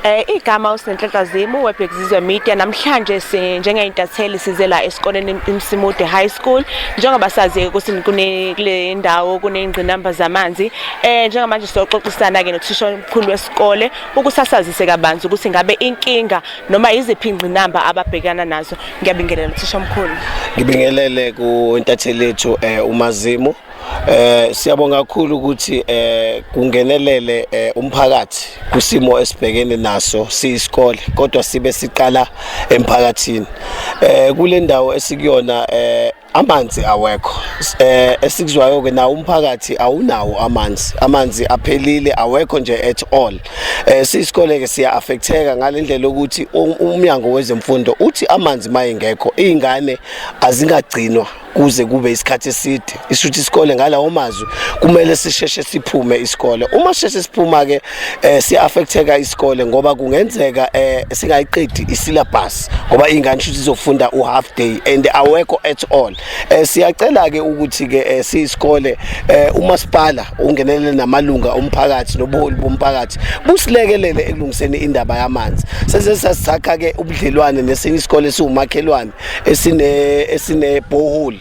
Eh igama uSenhlanhla Zimu weBig Zizwe Media namhlanje sinjengeintatheli size la esikoleni iMsimude High School njengoba sazi ukuthi kune kule ndawo kunengqinamba zamanzi eh njengamanje sizoxoxisana ke nothisha omkhulu wesikole ukusasazise kabanzi ukuthi ngabe inkinga noma yiziphi ingqinamba ababhekana nazo ngiyabingelela uthisha omkhulu ngibingelele ku intatheli yethu eh, umazimu Eh siyabonga kakhulu ukuthi eh kungenelele eh, umphakathi kusimo esibhekene naso siyisikole kodwa sibe siqala emphakathini. Eh kule ndawo esikuyona eh amanzi awekho eh esikuzwayo ke nawo umphakathi awunawo amanzi amanzi aphelile awekho nje at all eh sisikole ke siya affecteka ngalendlela ukuthi um-, umnyango wezemfundo uthi amanzi mayengekho izingane azingagcinwa kuze kube isikhathi eside ishuthi isikole ngalawo mazwi kumele sisheshe siphume isikole uma sisheshe siphuma ke eh si affecteka isikole ngoba kungenzeka eh singayiqedi isyllabus ngoba ingane shuthi izofunda u half day and awekho at all eh siyacela ke ukuthi ke eh, siyisikole eh umasipala ungenelele namalunga omphakathi nobuholi bomphakathi busilekelele ekulungiseni indaba yamanzi sese sasakha ke ubudlelwane nesinye isikole esiwumakhelwane esine esine borehole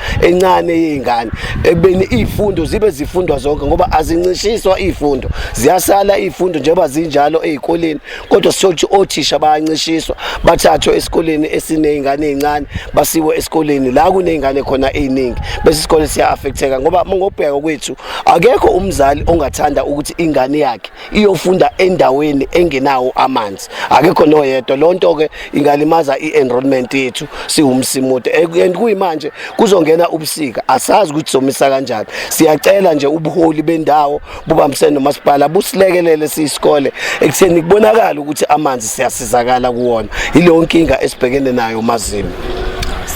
encane yezingane ekubeni izifundo zibe zifundwa zonke ngoba azincishiswa izifundo ziyasala izifundo njengoba zinjalo ezikoleni kodwa sithothi othisha bayancishiswa bathathwe esikoleni esinezingane ezincane basiwe esikoleni la kunezingane khona eziningi bese isikole siya affecteka ngoba mongobheka kwethu akekho umzali ongathanda ukuthi ingane yakhe iyofunda endaweni engenawo amanzi akekho noyedwa lonto ke ingalimaza ienrollment yethu siwumsimude and kuyimanje kuzongena ubusika asazi ukuthi somisa kanjani siyacela nje ubuholi bendawo bubambisene nomasipala busilekelele siyisikole ekutheni kubonakala ukuthi amanzi siyasizakala kuwona yileyo nkinga esibhekene nayo mazimi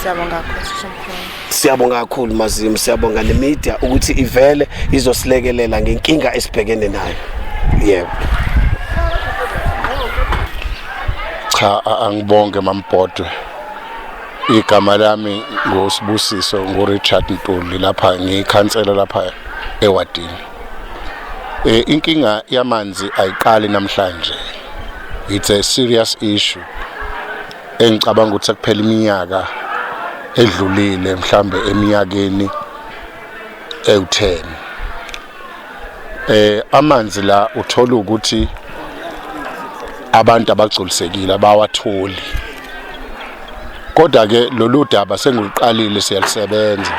siyabonga kakhulu Siyabonga kakhulu Mazimu, siyabonga le media ukuthi ivele izosilekelela ngenkinga esibhekene nayo. Yebo. Cha angibonge mambhodwe. Igama lami ngosibusiso nguRichard Ntuli lapha ngiyikhansela lapha eWadini. Eh inkinga yamanzi ayiqali namhlanje. It's a serious issue. engicabanga ukuthi sekuphela iminyaka edlulile mhlambe eminyakeni ewu10 eh amanzi la uthola ukuthi abantu abagculisekile abawatholi kodwa ke lolu daba sengiluqalile siyalisebenza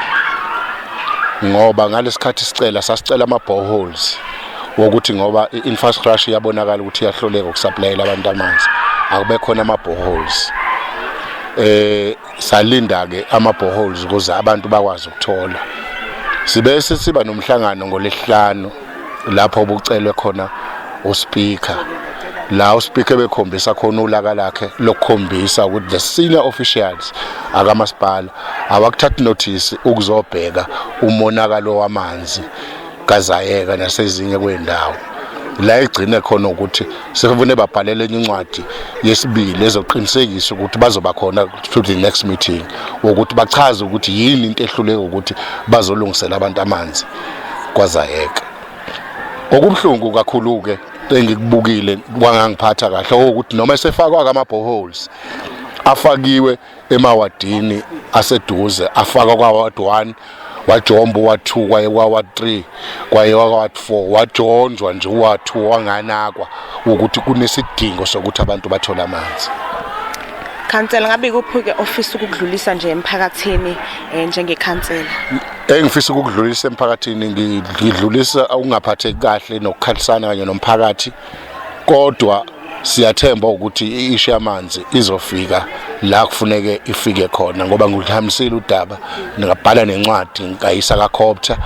ngoba ngalesikhathi sicela sasicela ama boreholes wokuthi ngoba i-infrastructure iyabonakala ukuthi iyahloleka ukusaplayela abantu amanzi akube khona ama-boreholes eh salinda-ke ama-boreholes ukuze abantu bakwazi ukuthola sibe sesiba nomhlangano ngolesihlanu lapho obucelwe khona uspika la uspika ebekhombisa khona ulaka lakhe lokukhombisa ukuthi the senior officials akamasipala awakuthathi notice ukuzobheka umonakalo wamanzi kazayeka nasezinye kweendawo la igcine khona ukuthi sefune babhalele enye incwadi yesibili ezoqinisekisa ukuthi bazoba khona to the next meeting ukuthi bachaze ukuthi yini into ehluleka ukuthi bazolungisela abantu amanzi kwazayeka okubuhlungu kakhulu-ke engikubukile kwangangiphatha kahle ukuthi noma esefakwa-ke ama-boholes afakiwe emawadini aseduze afaka kwaward 1 wajomba uward 2 kwaye kwaward 3 kwaye kwaward 4 wajonjwa nje uward 2 wanganakwa ukuthi kunesidingo sokuthi abantu bathole amanzi khansela ngabe kuphuke ofisa ukudlulisa nje emphakathini eh, njengekhansela engifisa ukudlulisa emphakathini ngidlulisa ukungaphatheki kahle nokukhalisana kanye nomphakathi kodwa siyathemba ukuthi i-ishu yamanzi izofika la kufuneke ifike khona ngoba ngilihambisile udaba ngabhala nencwadi ngayisa kaCopter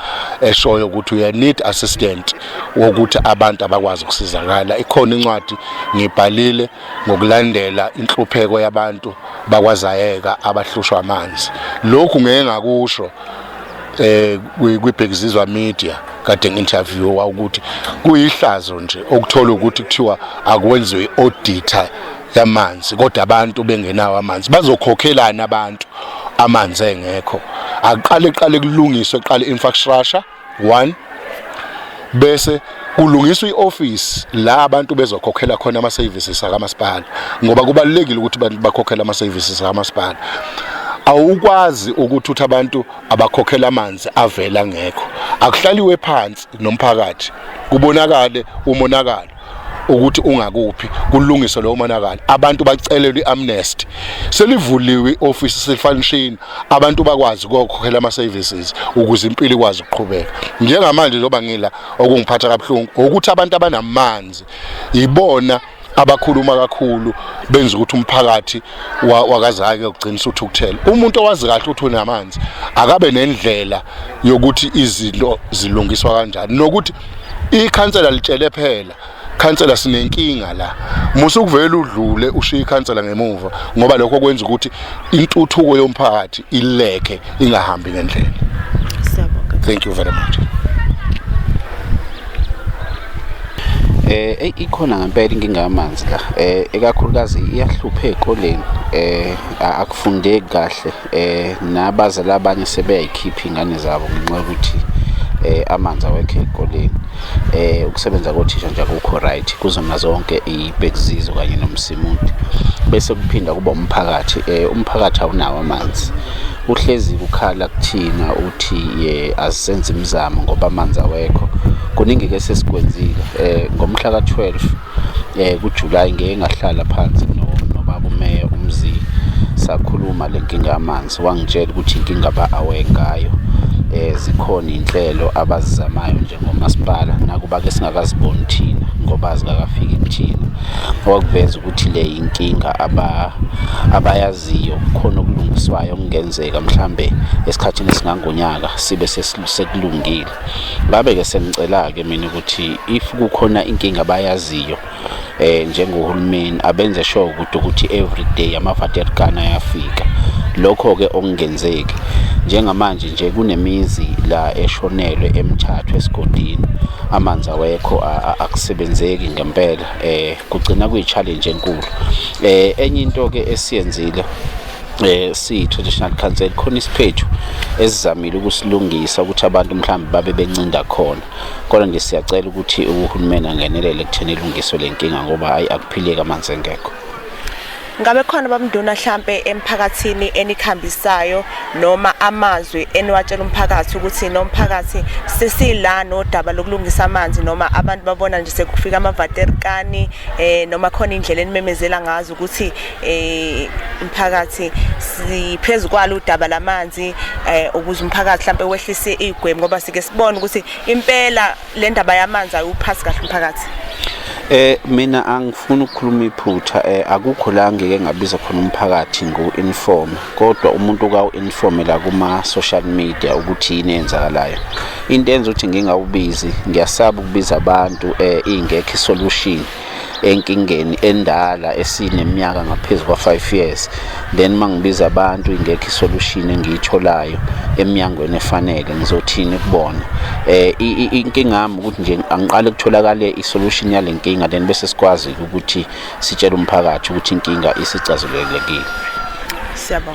eshoyo ukuthi uya need assistant wokuthi abantu abakwazi ukusizakala ikhona incwadi ngibhalile ngokulandela inhlupheko yabantu bakwazayeka abahlushwa amanzi lokhu ngeke ngakusho eh kwibhekizizwa media kade nginterview wa ukuthi kuyihlazo nje ukuthola ukuthi kuthiwa akwenziwe iauditor yamanzi kodwa abantu bengenawo amanzi bazokhokhelana abantu amanzi engekho aqale qale kulungiswe qale infrastructure 1 bese kulungiswa ioffice la abantu bezokhokhela khona ama services akamasipala ngoba kubalekile ukuthi abantu bakhokhele ama services akamasipala awukwazi ukuthutha abantu abakhokhela amanzi avela ngekho akuhlaliwe phansi nomphakathi kubonakale umonakalo ukuthi ungakuphi kulungiswe lowo monakalo abantu bacelelwe iamnesty selivuliwe ioffice sefanishini abantu bakwazi ukukhokhela ama services ukuze impilo ikwazi ukuqhubeka njengamanje njengoba ngila okungiphatha kabuhlungu ukuthi abantu abanamanzi yibona abakhuluma kakhulu benza ukuthi umphakathi wakazake ugcina usuthukuthela umuntu owazi kahle ukuthi unamanzi akabe nendlela yokuthi izinto zilungiswa kanjani nokuthi ikhansela litshele phela khansela sinenkinga la musa ukuvela udlule ushiye ikhansela ngemuva ngoba lokho kwenza ukuthi intuthuko yomphakathi ileke ingahambi ngendlela thank you very much eh, eh ikhona ngempela inkinga yamanzi la eh ekakhulukazi iyahlupha ezikoleni eh akufundeki kahle eh nabazali abanye sebeyayikhipha ingane zabo ngenxa yokuthi eh amanzi awekho ezikoleni eh ukusebenza kothisha nje akukho right kuzona zonke ibhekizizo kanye nomsimundi bese kuphinda kuba umphakathi eh umphakathi awunawo amanzi uhlezi kukhala kuthina uthi ye asenze imizamo ngoba amanzi awekho kuningi ke sesikwenzile eh ngomhla ka12 eh kuJuly ngeke ngahlala phansi no nobaba umeya umzi sakhuluma lenkinga yamanzi wangitshela ukuthi inkinga ba aware ngayo eh zikhona inhlelo abazizamayo njengomasipala nakuba ke singakaziboni thina ngoba zingakafiki kuthina okwakuveza ukuthi le inkinga aba abayaziyo khona okulungiswayo okungenzeka mhlambe esikhathini esingangonyaka sibe sekulungile ngabe ke sengicela-ke mina ukuthi if kukhona inkinga abayaziyo eh njengohulumeni abenze sure ukuthi ukuthi every day ama-vaterkan ayafika lokho-ke okungenzeki njengamanje nje kunemizi la eshonelwe emthathu esigodini amanzi awekho akusebenzeki ngempela eh kugcina kuyi-challenge enkulu eh enye into-ke esiyenzile eh si traditional council khona isiphethu esizamile ukusilungisa ukuthi abantu mhlawumbe babe bencinda khona kodwa nje siyacela ukuthi uhulumeni angenelele ekutheni ilungiswe le nkinga ngoba hayi akuphileki amanzi engekho ngabe khona bamduna hlampe emphakathini enikhambisayo noma amazwi eniwatshela umphakathi ukuthi nomphakathi sesila nodaba lokulungisa amanzi noma abantu babona nje sekufika amavateri kani eh noma khona indlela enimemezela ngazo ukuthi eh umphakathi siphezulu kwalo udaba lamanzi eh ukuze umphakathi mhlawumbe wehlise igwemi ngoba sike sibone ukuthi impela le ndaba yamanzi ayuphasi kahle umphakathi Eh mina angifuni ukukhuluma iphutha eh akukho la ngeke ngabiza khona umphakathi ngo inform kodwa umuntu ka inform la kuma social media ukuthi yini enzakalayo into enza ukuthi ngingawubizi ngiyasaba ukubiza abantu eh ingekho solution enkingeni endala esineminyaka ngaphezu kwa-5 years then uma ngibiza abantu ingekho isolution engiyitholayo emnyangweni efanele ngizothini kubona eh inkinga yami ukuthi nje angiqale kutholakale isolution yale nkinga then bese sikwazi ukuthi sitshele umphakathi ukuthi inkinga isicazulelekile siyabonga